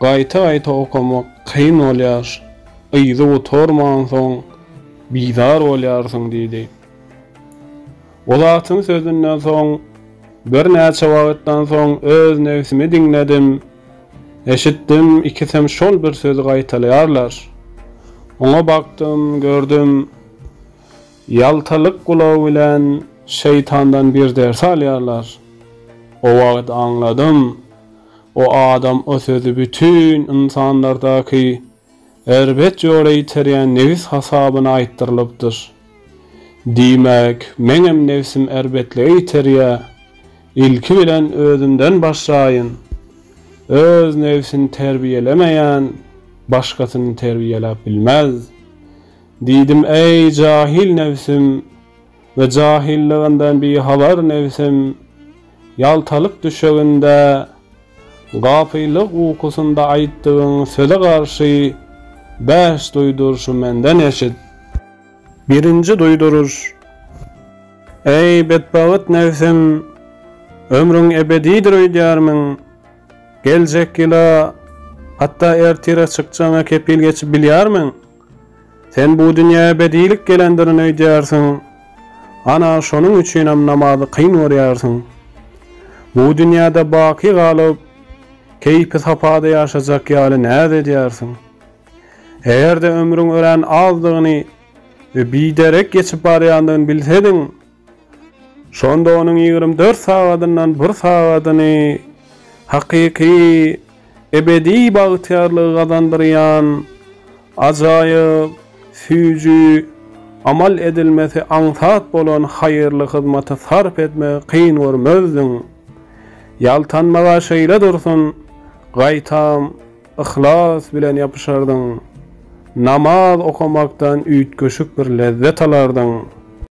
Gaýta-gaýta okamak kyn bolýar. Yzy gutarmansoň, bizar bolýarsyň diýdi. O zatyň sözünden soň, birnäçe wagtdan soň öz nebsimi diňledim. Eşitdim, ikisem şol bir sözi gaýtalaýarlar. Oňa bakdym, gördüm. Ýaltalyk gulagy bilen şeýtandan bir ders alýarlar. O wagt aňladym. O adam o sözi bütin ynsanlardaky erbet ýola iterýän nebis hasabyna aýtdyrylypdyr. Diýmek, meňem nebsim erbetlige iterýä. Ilki bilen özümden başlaýyn. Öz nebsini terbiýelemeýän başgasyny terbiýeläp bilmez. Diýdim, Eý, jahyl nebsim! We jahyllygyňdan bihabar nebsim, ýaltalyk düşeginde, gapylyk ukusynda aýtdygyň söze garşy bäş duýduryşy menden eşit. Birinji duýduryş, Eý, betbagyt nebsim, ömrüň ebedidir öýdýärmiň? Geljek ýyla, hatda ertire çykjagyňa kepil geçip bilýärmiň? Sen bu dünýä ebedilik gelendirin öýdýärsiň. Ana, şonuň üçinem namazy kyn görýärsiň. Bu dünýäde baky galyp, keýpi-sapada ýaşajak ýaly näz edýärsiň. Eger-de ömrüň örän azdygyny we biderek geçip barýandygyny bilsediň, Şonda onuň ýigrimi dört sagadyndan bir sagadyny hakyky, ebedi bagtyýarlygy gazandyrýan ajaýyp, süýji, amal edilmesi aňsat bolan haýyrly hyzmata sarp etmegi kyn görmezdiň. Ýaltanma-a şeýle dursun, gaýtam, yhlas bilen ýapyşardyň. Namaz okamakdan üýtgeşik bir lezzet alardyň.